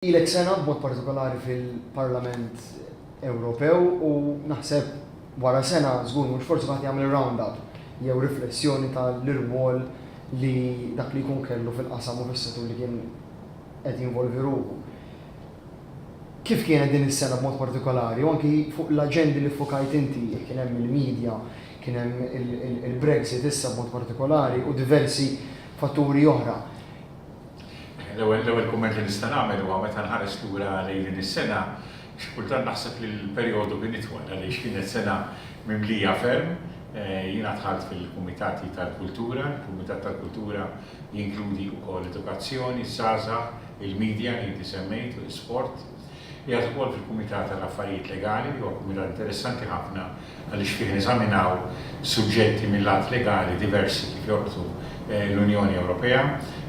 Ilek sena b'mod partikolari fil-Parlament Ewropew u naħseb wara sena żgur mhux forsi kulħadd jagħmel ir-round up jew riflessjoni tal-irwol li dak li jkun kellu fil-qasam u fis-settur li kien qed jinvolvi ruħu. Kif kienet din is-sena b'mod partikolari u anki fuq l-aġendi li ffukajt inti, kien hemm il-media, kien hemm il-Brexit issa b'mod partikolari u diversi fatturi oħra. L-ewwel kumment li nista' nagħmel huwa meta nħares lura lejn din is-sena, xi kultant naħseb li l-perjodu kien itwal għaliex kienet sena mimlija ferm. Jiena dħalt fil-Kumitati tal-Kultura, il-Kumitat tal-Kultura jinkludi wkoll Edukazzjoni, Żgħażagħ, il-Midja li inti semmejt u l-Isport. Qiegħed ukoll fil-Kumitat għall-Affarijiet Legali li huwa kumitat interessanti ħafna għaliex fih neżaminaw suġġetti mil-lat legali diversi kif jorbtu l-Unjoni Ewropea.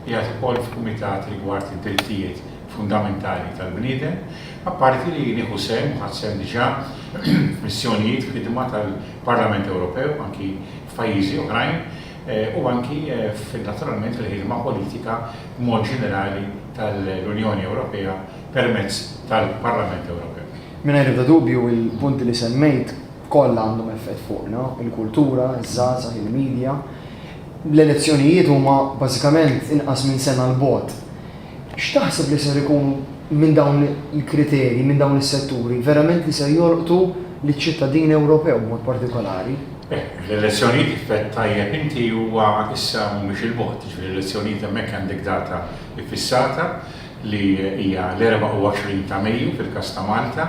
Qiegħed ukoll f'kumitat rigward id-drittijiet fundamentali tal-bniedem. Apparti li nieħu sehem u ħadt sehem diġà f'missjonijiet ħidma tal-Parlament Ewropew anki f'pajjiżi oħrajn, u anki naturalment fil-ħidma politika b'mod ġenerali tal-Unjoni Ewropea permezz tal-Parlament Ewropew. Mingħajr ebda dubju, il-punti li semmejt kollha għandhom effett fuqna, il-kultura, iż-żgħażagħ, il-midja. L-elezzjonijiet huma bażikament inqas minn sena 'l bogħod. X'taħseb li ser ikunu minn dawn il-kriterji, minn dawn is-setturi, verament li ser jolqtu liċ-ċittadin Ewropew b'mod partikolari? Beh, l-elezzjonijiet kif għedt tajjeb inti huwa issa mhumiex il-bogħod, jiġifieri l-elezzjonijiet hemmhekk għandek data iffissata li hija l-24 ta' Mejju fil-każ ta' Malta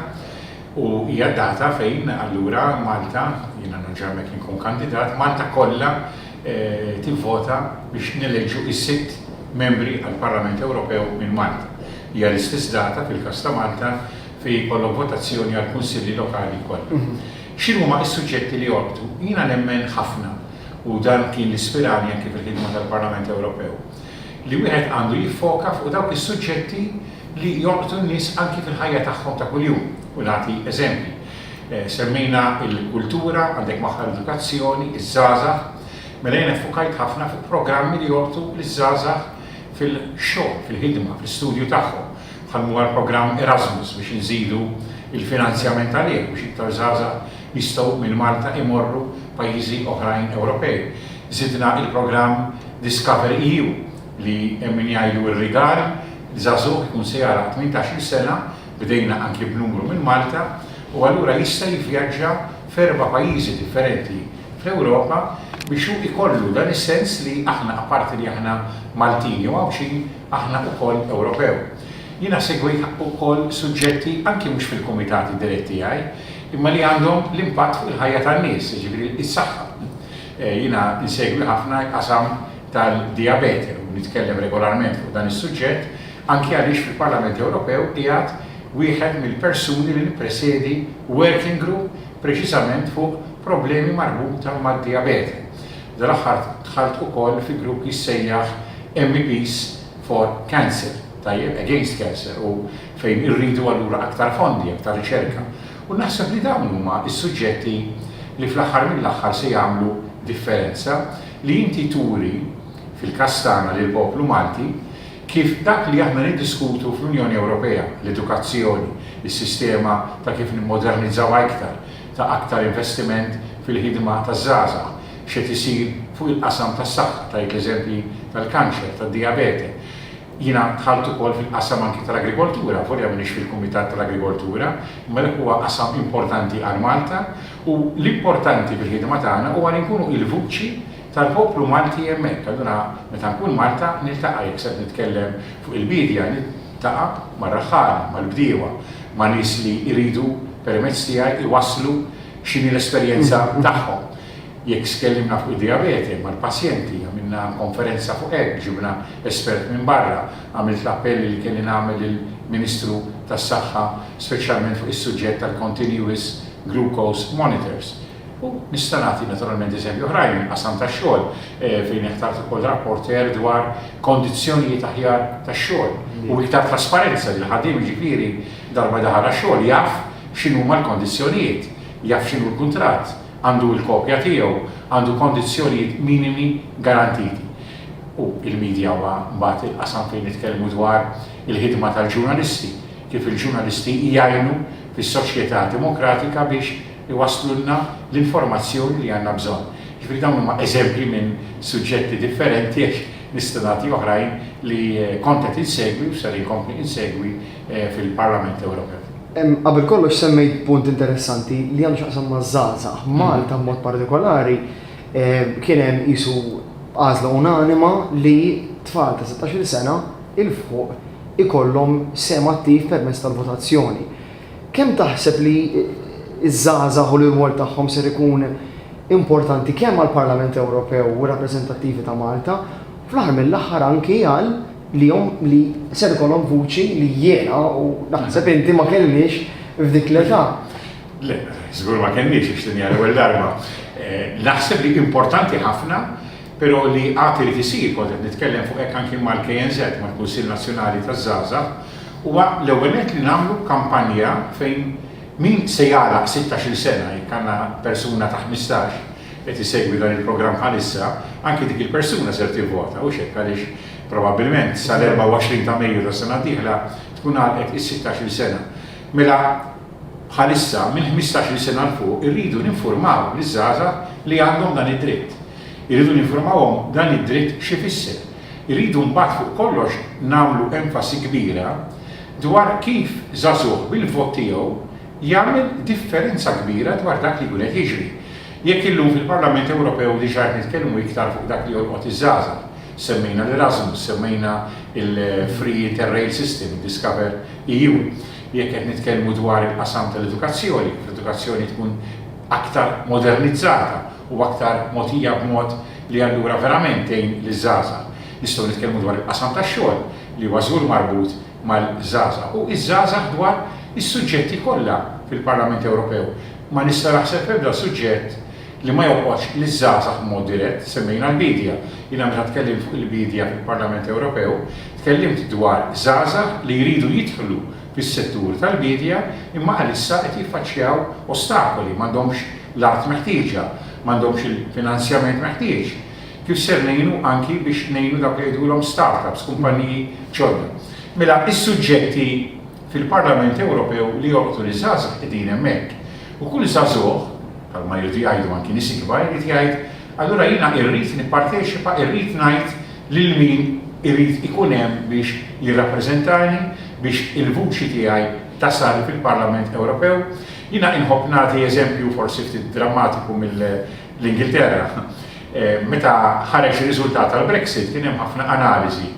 u hija d-data fejn allura Malta, jiena nerġa' hemmhekk inkun kandidat, Malta kollha tivvota biex neleġġu is-sitt Membri għall-Parlament Ewropew minn Malta. Hija l-istess data, fil-każ ta' Malta, fejn jkollok votazzjoni għall-Kunsilli Lokali kollha. X'inhuma s-suġġetti li jolqtu? Jiena nemmen ħafna, u dan kien li spirani anki fil-ħidma tal-Parlament Ewropew, li wieħed għandu jiffoka fuq dawk is-suġġetti, li jolqtu n-nies anki fil-ħajja tagħhom ta' kuljum u nagħti eżempji. Semmejna l-kultura, għandek magħha l-edukazzjoni, iż-żgħażagħ. Mela jiena ffukajt ħafna fuq programmi li jolqtu liż-żgħażagħ fil-xogħol, fil-ħidma, fl-istudju tagħhom, bħal mhu l-programm Erasmus biex inżidu l-finanzjament għalih biex iktar żgħażagħ jistgħu minn Malta imorru pajjiżi oħrajn Ewropej. Żidna l-programm Discover EU li hemm min jgħidu r-rigal Żagħżugħ ikun se jagħlaq tmintax-il sena, bdejna anki b'numru minn Malta, u allura jista' jivvjaġġa f'erba' pajjiżi differenti fl-Ewropa biex hu ikollu dan is-sens li aħna apparti li aħna Maltin jew Għawdxin, aħna ukoll Ewropew. Jiena segwejt ukoll suġġetti anki mhux fil-kumitati dirett tiegħi, imma li għandhom l-impatt fuq il-ħajja tan-nies, jiġifieri is-saħħa. Jiena nsegwi ħafna l-qasam tal-dijabete u nitkellem regolarment fuq dan is-suġġett, anki għaliex fil-Parlament Ewropew qiegħed wieħed mill-persuni li nippresedi working group preċiżament fuq problemi marbuta mad-dijabete. Dal-aħħar dħalt ukoll fi grupp jissejjaħ MEPs for Cancer, tajjeb, against cancer, u fejn irridu allura aktar fondi, aktar riċerka. U naħseb li dawn huma s-suġġetti li fl-aħħar mill-aħħar se jagħmlu differenza, li inti turi, fil-każ tagħna lill-poplu Malti, kif dak li aħna niddiskutu fl-Unjoni Ewropea, l-edukazzjoni, is-sistema ta' kif nimmodernizzawha iktar, ta' aktar investiment fil-ħidma taż-żgħażagħ, x'qed isir fuq il-qasam tas-saħħa, tajt l-eżempji tal-kanċer, tad-dijabete, Jiena dħalt ukoll fil-qasam anki tal-agrikoltura, volja m'iniex fil-Kumitat tal-Agrikoltura, imma dak huwa qasam importanti għal Malta u l-importanti fil-ħidma tagħna huwa li nkunu il-vuċi tal-poplu Malti hemmhekk. Allura meta nkun Malta niltaqa' jekk sed nitkellem fuq il-biedja niltaqa' mar-raħħala, mal-bdiewa, ma' nies li jridu permezz tiegħi jwasslu x'inhi l-esperjenza tagħhom. Jekk tkellimna fuq id-dijabete mal-pazjenti, għamilna konferenza fuq hekk, ġibna espert minn barra, għamilt l-appell li kelli nagħmel lill-Ministru tas-Saħħa speċjalment fuq is-suġġett tal-continuous glucose monitors. U nista' nagħti naturalment eżempji oħrajn mill-qasam tax-xogħol fejn ħtart ukoll rapporteur dwar kondizzjonijiet aħjar tax-xogħol u iktar trasparenza li l-ħaddiem jiġifieri darba daħal għax-xogħol jaf x'inhuma l-kondizzjonijiet, jaf x'inhu l-kuntratt, għandu l-kopja tiegħu għandu kondizzjonijiet minimi garantiti u l-midja huwa mbagħad il-qasam fejn nitkellmu dwar il-ħidma tal-ġurnalisti, kif il-ġurnalisti jgħinu fis-soċjetà demokratika biex iwasslulna l-informazzjoni li għandna bżonn. Jiġifieri dawn huma eżempji minn suġġetti differenti għax nista' nagħti oħrajn li kont qed insegwi u ser inkompli insegwi fil-Parlament Ewropew. Qabel kollox semmejt punt interessanti li għandu x'aqsam ma' żgħażagħ. Malta b'mod partikolari kien hemm qisu għażla unanima li tfal ta' 16-il sena il fuq ikollhom sem attiv permezz tal-votazzjoni. Kemm taħseb li ż-żgħażagħ u l-irwol tagħhom ser ikun importanti kemm għall-Parlament Ewropew u r-rappreżentattivi ta' Malta, fl-aħħar mill-aħħar anki għal lihom li ser ikollhom vuċi li jiena u naħseb inti ma kellniex f'dik l-età. Le, żgur ma kellniex għax din hija l-ewwel darba. Naħseb li importanti ħafna, però li għad irid isir, kont qed nitkellem fuq hekk anki mal-KNZ, mal-Kunsill Nazzjonali taż-Żgħażagħ, huwa l-ewwel nett li nagħmlu kampanja fejn min se jagħlaq sittax-il sena, jekk għandna persuna ta' ħmistax qed isegwi dan il-programm bħalissa, anki dik il-persuna ser tivvota, hux hekk għaliex Probabbilment, sal-24 ta' Mejju tas-sena d-dieħla tkun għalqet is-sittax-il sena. Mela, bħalissa, minn ħmistax-il sena 'l fuq irridu ninfurmaw liż-żgħażagħ li għandhom dan id-dritt. Irridu ninfurmawhom dan id-dritt x'ifisser. Irridu mbagħad fuq kollox nagħmlu enfasi kbira dwar kif żagħżugħ bil-vot tiegħu jagħmel differenza kbira dwar dak li jkun qed jiġri. Jekk illum fil-Parlament Ewropew diġà qed nitkellmu iktar fuq dak li jolqot iż-żgħażagħ, Semmejna l-Erasmus, semmejna l-Free Interrail System, id-Discover EU. Jekk qed nitkellmu dwar il-qasam tal-edukazzjoni, kif l-edukazzjoni tkun aktar modernizzata u aktar mogħtija b'mod li allura verament tgħin liż-żgħażagħ. Nistgħu nitkellmu dwar il-qasam tax-xogħol li huwa żgur marbut mal-żgħażagħ u iż-żgħażagħ dwar is-suġġetti kollha fil-Parlament Ewropew. Ma nista' naħseb f'ebda suġġett li ma jolqotx liż-żgħażagħ b'mod dirett. Semmejna l-biedja. Jiena meta tkellimt fuq il-biedja fil-Parlament Ewropew, tkellimt dwar żgħażagħ li jridu jidħlu fis-settur tal-biedja imma għalissa qed jiffaċċjaw ostakoli, m'għandhomx l-art meħtieġa, m'għandhomx il-finanzjament meħtieġ. Kif ser ngħinu anki biex ngħinu dawk li jgħidulhom start-ups, kumpanniji ġodda? Mela, is-suġġetti fil-Parlament Ewropew li jolqtu liż-żgħażagħ qegħdin hemmhekk. U kull żagħżugħ, bħalma jridu jgħidu anki nies ikbar, irid jgħid, allura jiena irrid nipparteċipa, irrid ngħid lil min irid ikun hemm biex jirrappreżentani, biex il-vuċi tiegħi tasal fil-Parlament Ewropew. Jiena inħobb nagħti eżempju forsi ftit drammatiku mill. l-Ingilterra. Meta ħareġ ir-riżultat tal-Brexit kien hemm ħafna analiżi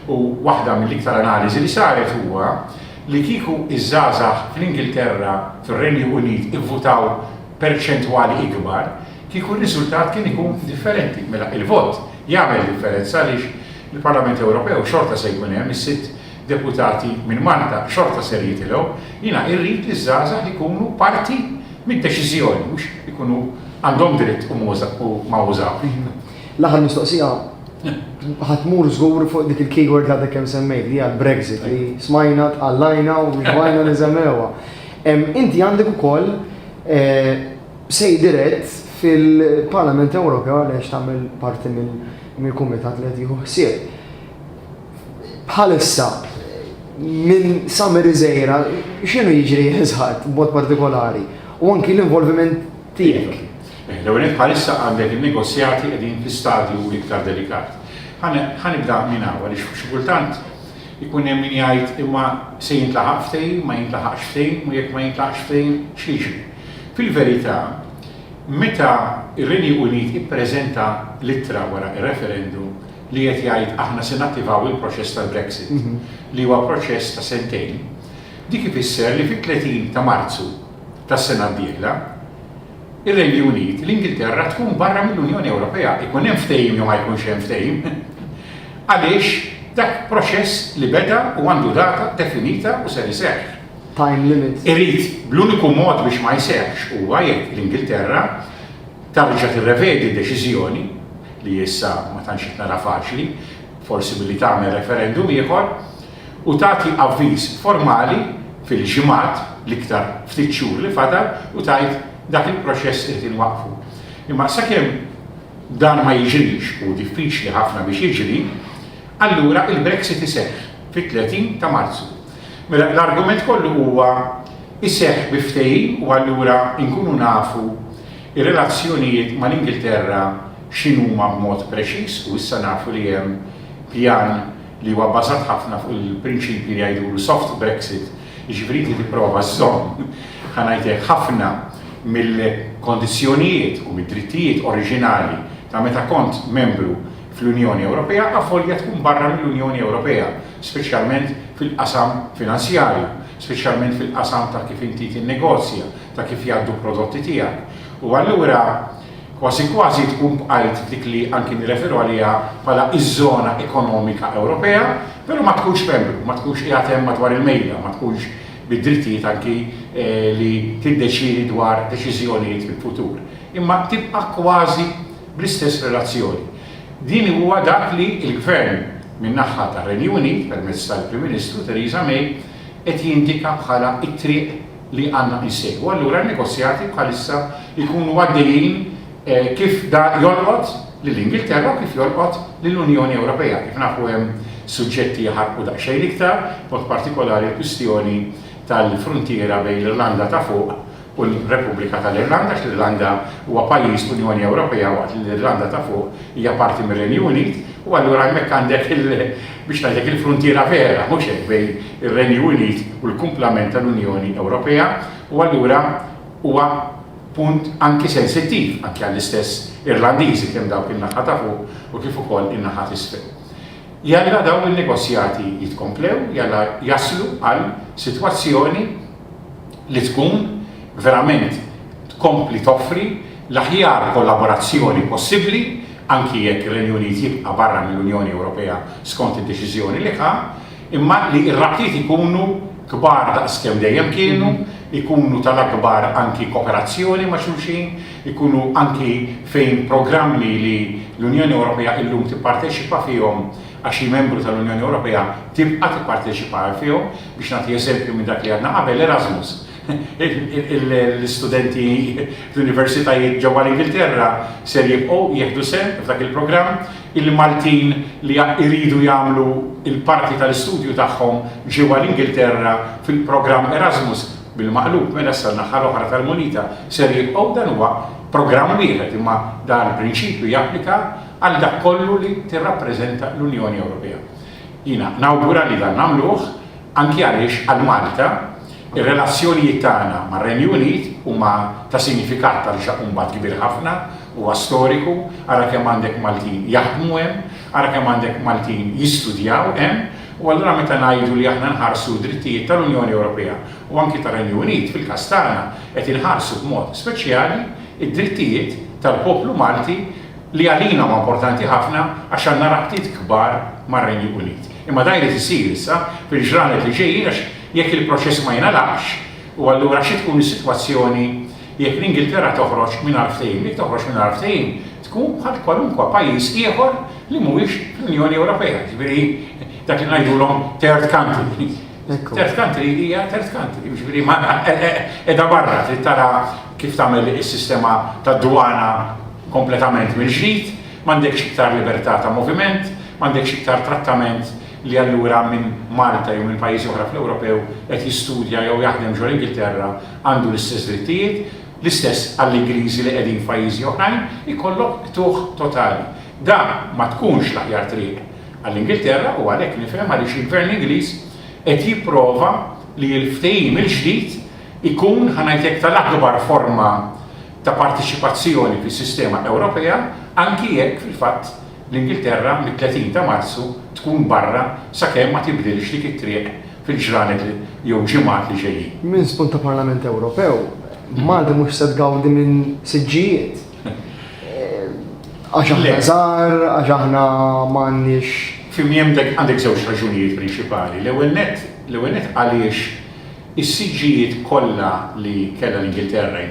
u waħda mill-iktar analiżi li saret huwa li kieku ż-żgħażagħ fl-Ingilterra, fir-Renju Unit ivvutaw perċentwali ikbar, kieku r-riżultat kien ikun differenti. Mela, il-vot jagħmel differenza għaliex il-Parlament Ewropew xorta se jkun hemm is-sitt deputati minn Malta xorta ser jitilgħu, jiena irrid li ż-żgħażagħ ikunu parti mid-deċiżjoni mhux ikunu għandhom dritt u ma użawhx. L-aħħar mistoqsija, ħa tmur żgur fuq dik il-keyword li għadek kemm semmejt li hija l-Brexit li smajna tqallajna u xbajna niżemmewha. Inti għandek ukoll sej dirett fil-Parlament Ewropew għaliex tagħmel parti mill-kumitat li qed jieħu ħsieb. Bħalissa, minn sa mir-Riżejra, x'inhu jiġri Ħiż-Ħadd b'mod partikolari u anki l-involviment tiegħek? L-ewwel nett bħalissa għandek in-negozjati qegħdin fi stadju iktar delikat. Ħa nibda minn hawn għaliex xi kultant ikun hemm min jgħid imma se jintlaħaq ftehim, ma jintlaħaqx ftehim u jekk ma jintlaħaqx ftehim x'jiġri. Fil-verità, meta r-Renew Unit ippreżenta l-ittra wara r-referendum, li qed jgħid aħna se nattivaw il-proċess tal-Brexit, li huwa proċess ta' sentejn, dik ifisser li fit-30 ta' Marzu tas-sena d-dieħla, ir-Renju Unit, l-Ingilterra tkun barra mill-Unjoni Ewropea, ikun hemm ftehim jew ma jkunx hemm ftehim, għaliex dak proċess li beda u għandu data definita u ser iseħħ. Time limit. Irid, bl-uniku mod biex ma jseħħx huwa jekk l-Ingilterra, Tarġa' tirrevedi d-deċiżjoni, li issa ma tantx qed nara faċli, forsi billi tagħmel referendum ieħor, u tagħti avviż formali fil-ġimgħat, l-iktar ftit xhur li fadal, u tgħid dak il-proċess irid inwaqqfu. Imma sakemm dan ma jiġrix, u diffiċli ħafna biex jiġri, allura il-Brexit iseħħ fit-30 ta' Marzu. Mela l-argument kollu huwa jseħħ bi ftehim u allura nkunu nafu r-relazzjonijiet mal-Ingilterra x'inhuma b'mod preċiż u issa nafu li hemm pjan li huwa bbażat ħafna fuq il-prinċipji li jgħidulu soft Brexit, jiġifieri inti tipprova żżomm, ħa ngħid hekk, ħafna mill-kondizzjonijiet u mid-drittijiet oriġinali ta' meta kont membru fl-Unjoni Ewropea avolja tkun barra mill-Unjoni Ewropea, speċjalment fil-qasam finanzjarju, speċjalment fil-qasam ta' kif inti tinnegozja, ta' kif jgħaddu l-prodotti tiegħek. U allura kważi kważi tkun bqajt f'dik li anki nirreferu għaliha bħala iż-żona ekonomika Ewropea, però ma tkunx membru, ma tkunx qiegħed hemm madwar il-mejda, ma tkunx bid-drittijiet anki li tiddeċiedi dwar deċiżjonijiet fil-futur. Imma tibqa' kważi Bl-istess relazzjoni, din huwa dak li l-Gvern min-naħa tar-Renju Unit, permezz tal-Prim Ministru Theresa May, qed jindika bħala t-triq li għandna insegwu. Allura n-negozjati bħalissa jkunu għaddejjin kif da jolqot lill-Ingilterra u kif jolqot lill-Unjoni Ewropea. Kif nafu hemm suġġetti jaħarqu daqsxejn iktar, b'mod partikolari l-kwistjoni tal-fruntiera bejn l-Irlanda ta' Fuq u l-Repubblika tal-Irlanda għax l-Irlanda huwa pajjiż Unjoni Ewropea waqt li l-Irlanda ta' Fuq hija parti mir-Renju Unit u allura hemmhekk għandek il biex ngħidlek il-fruntiera vera mhux hekk bejn ir-Renju Unit u l-kumplament tal-Unjoni Ewropea u allura huwa punt anki sensittiv anki għall-istess Irlandiżi kemm dawk in-naħa ta' fuq u kif ukoll in-naħa t'isfel. Jalla dawn in-negozjati jitkomplew, jalla jaslu għal sitwazzjoni li tkun verament tkompli toffri l-aħjar kollaborazzjoni possibbli, anki jekk ir-Renju Unit jibqa' barra mill-Unjoni Ewropea skont id-deċiżjoni li ħa, imma li r-rabtiet ikunu kbar daqs kemm dejjem kienu, ikunu tal-akbar anki koperazzjoni ma' xulxin, ikunu anki fejn programmi li l-Unjoni Ewropea illum tipparteċipa fihom għax hi membru tal-Unjoni Ewropea tibqa' tipparteċipa fihom. Biex nagħti eżempju minn dak li għadna qabel, Erasmus. L-istudenti fl-universitajiet ġewwa l-Ingilterra ser jibqgħu jieħdu sehem f'dak il-programm. Il-Maltin li jridu jagħmlu l-parti tal-istudju tagħhom ġewwa l-Ingilterra fil-programm Erasmus, bil-maqlub mela issa n-naħa l-oħra tal-munita, ser jibqgħu. Dan huwa programm wieħed imma dan il-prinċipju japplika għal dak kollu li tirrappreżenta l-Unjoni Ewropea. Jiena nawgura li dan nagħmluh anki għaliex għal Malta r-relazzjonijiet tagħna mar-Renju Unit huma ta' sinifikat ta' rixaq mbagħad kbir ħafna, huwa storiku, ara kemm għandek Maltin jaħdmu hemm, ara kemm għandek Maltin jistudjaw hemm u allura meta ngħidu li aħna nħarsu d-drittijiet tal-Unjoni Ewropea u anki tar-Renju Unit fil-każ tagħna qed inħarsu b'mod speċjali d-drittijiet tal-poplu Malti li għalina huwa importanti ħafna għax għandna rabtiet kbar mar-Renju Unit. Imma dan jrid isir issa fil-ġranet li ġejjin għax jekk il-proċess ma jingħalaqx, u allura xi tkun is-sitwazzjoni jekk l-Ingilterra toħroġ mingħajr ftehim? Jekk toħroġ mingħajr ftehim tkun bħal kwalunkwe pajjiż ieħor li mhuwiex fl-Unjoni Ewropea, jiġifieri dak li ngħidulhom third country. Third country hija third country, jiġifieri ma qiegħda barra trid tara kif tagħmel is-sistema tad-dwana kompletament mill-ġdid, m'għandekx iktar libertà ta' moviment, m'għandekx iktar trattament li allura min Malta jew minn pajjiżi oħra fl-Ewropew qed jistudja jew jaħdem ġo l-Ingilterra għandu l-istess drittijiet, l-istess għall-Ingliżi li qegħdin f'pajjiżi oħrajn, ikollok qtugħ totali. Dan ma tkunx l-aħjar triq għall-Ingilterra u għalhekk nifhem għaliex il-Gvern Ingliż qed jipprova li l-ftehim il-ġdid ikun, ħa ngħid hekk, tal-akbar forma ta' parteċipazzjoni fis-sistema Ewropea anki jekk fil-fatt l-Ingilterra mit-30 ta' Marzu tkun barra sakemm ma tibdilx dik it-triq fil-ġranet jew ġimgħat li ġejjin. Minn spunt ta' Parlament Ewropew, Malta mhux se tgawdi minn siġġijiet. Għax aħna żgħar, għax aħna m'għandniex. F'imiem għandek żewġ raġunijiet prinċipali. L-ewwel nett, l-ewwel nett għaliex Is-siġġijiet kollha li kellha l-Ingilterra,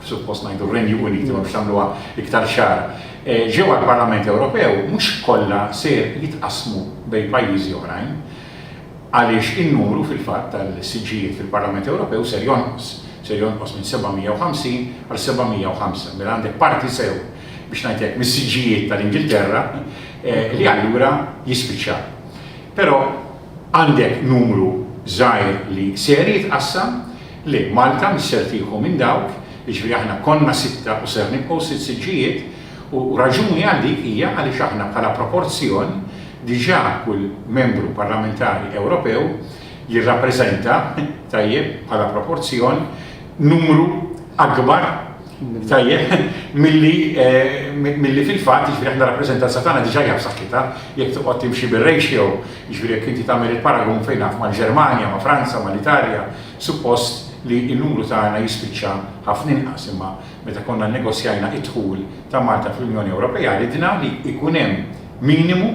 suppost ngħidu r-Renju Unit imma biex nagħmluha iktar ċara, ġew għall-Parlament Ewropew mhux kollha ser jitqassmu bejn pajjiżi oħrajn għaliex in-numru fil-fatt tal-siġġijiet fil-Parlament Ewropew ser jonqos, ser jonqos minn 750 għal 705. Mela għandek parti sew, biex ngħid hekk, mis-siġġijiet tal-Ingilterra li allura jispiċċaw. Però Għandek numru żgħir li ser jitqassam, li Malta mhix ser tieħu minn dawk, jiġifieri aħna konna sitta u ser nibqgħu sitt siġġijiet, u raġuni għal dik hija għaliex aħna bħala proporzjon diġà kull Membru Parlamentari Ewropew jirrappreżenta, tajjeb, bħala proporzjon, numru akbar Tajjeb, milli milli fil-fatt jiġri jiġifieri aħna rappreżentanza tagħna diġà hija b'saħħitha, jekk toqgħod timxi bir-ratio, jiġri jekk inti tagħmel il-paragun fejn naf mal-Ġermanja, ma' Franza, mal-Italja, suppost li n-numru tagħna jispiċċa ħafna inqas imma meta konna nnegozjajna id-dħul ta' Malta fl-Unjoni Ewropea ridna li jkun hemm minimu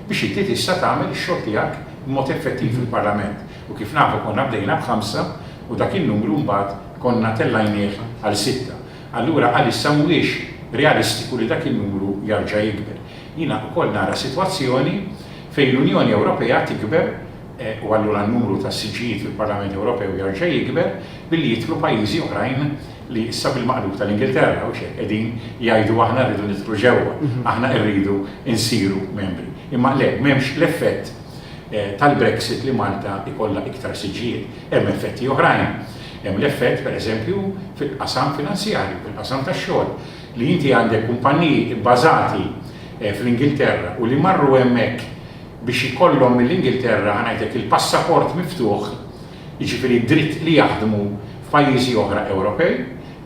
biex inti tista' tagħmel ix-xogħol tiegħek b'mod effettiv fil-Parlament. U kif nafu konna bdejna b'ħamsa u dak in-numru mbagħad konna tellajnieh għal sitta. Allura għalissa mhuwiex realistiku li dak in-numru jarġa' jikber. Jiena wkoll nara sitwazzjoni fejn l-Unjoni Ewropea tikber u allura n-numru ta' siġġijiet fil-Parlament Ewropew jarġa' jikber billi jidħlu pajjiżi oħrajn li issa bil-maqlub tal-Ingilterra hawn xejn qegħdin jgħidu aħna rridu nidħlu ġewwa, aħna rridu nsiru membri. Imma le, m'hemmx l-effett tal-Brexit li Malta jkollha iktar siġġijiet. Hemm effetti oħrajn. Hemm l-effett, pereżempju, fil-qasam finanzjarju, fil-qasam tax-xogħol, li inti għandek kumpanniji bbażati fl-Ingilterra u li marru hemmhekk biex ikollhom mill-Ingilterra, ħa ngħidlek, il-passaport miftuħ, jiġifieri d-dritt li jaħdmu f'pajjiżi oħra Ewropej,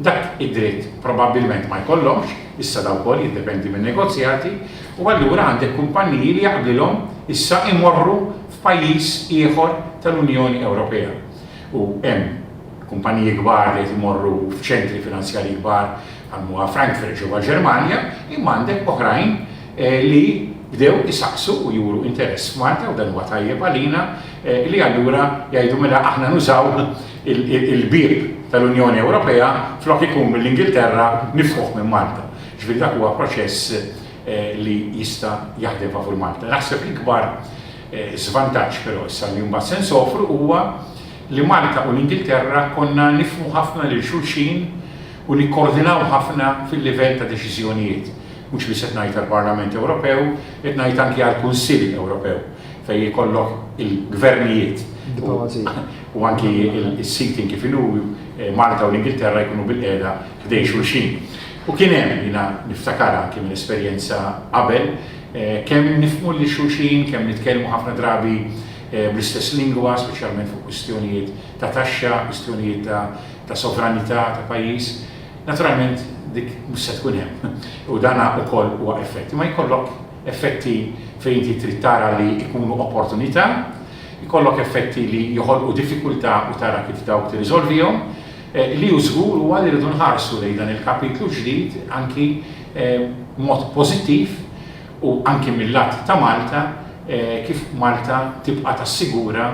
dak id-dritt probabbilment ma jkollhomx, issa da wkoll jiddependi min-negozjati, u allura għandek kumpanniji li jaqblilhom issa imorru f'pajjiż ieħor tal-Unjoni Ewropea. U hemm kumpanniji kbar li qed imorru f'ċentri finanzjarji kbar bħal m'huwa Frankfurt ġewwa l-Ġermanja, imma għandek oħrajn li bdew isaqsu u juru interess f'Malta u dan huwa tajjeb għalina li allura jgħidu mela aħna nużaw il-bieb tal-Unjoni Ewropea flok ikun mill-Ingilterra nifħuh minn Malta. Ġifieri dak huwa proċess li jista' jaħdem favur Malta. Naħseb l-ikbar żvantaġġ però issa li mbagħad se nsofru huwa li Malta u l-Ingilterra konna nifhmu ħafna lil xulxin u nikkoordinaw ħafna fil-livell ta' deċiżjonijiet. Mhux biss qed ngħid għall-Parlament Ewropew, qed ngħid anki għall-Kunsill Ewropew fejn ikollok il-gvernijiet u anki s-sitting kif inhu eh, Malta u l-Ingilterra jkunu bil-qiegħda ħdej xulxin. U kien hemm jiena niftakar anki minn esperjenza qabel eh, kemm nifhmu li xulxin, kemm nitkellmu ħafna drabi eh, bl-istess lingwa, speċjalment fuq kwistjonijiet ta' taxxa, kwistjonijiet ta' sovranità ta' pajjiż. Naturalment dik mhux se tkun hemm u dan ukoll huwa effett. Imma jkollok effetti fejn inti trid tara li jkunu opportunità, jkollok effetti li joħolqu diffikultà u tara kif dawk tirriżolvihom. Eh, li hu żgur huwa li rridu nħarsu lejn dan il-kapitlu ġdid anki eh, mod pożittiv u anke mil-lat ta' Malta, kif Malta tibqa' tassigura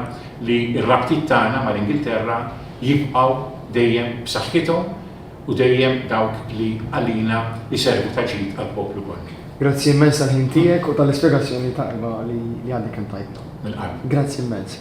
li r-rabtiet tagħna mal-Ingilterra jibqgħu dejjem b'saħħithom u dejjem dawk li għalina jservu ta' ġid għall-poplu kollu. Grazzi immens tal-ħin tiegħek u tal-ispjegazzjoni tajba li għadek kemm tajtna. Mill-qalb. Grazzi immens.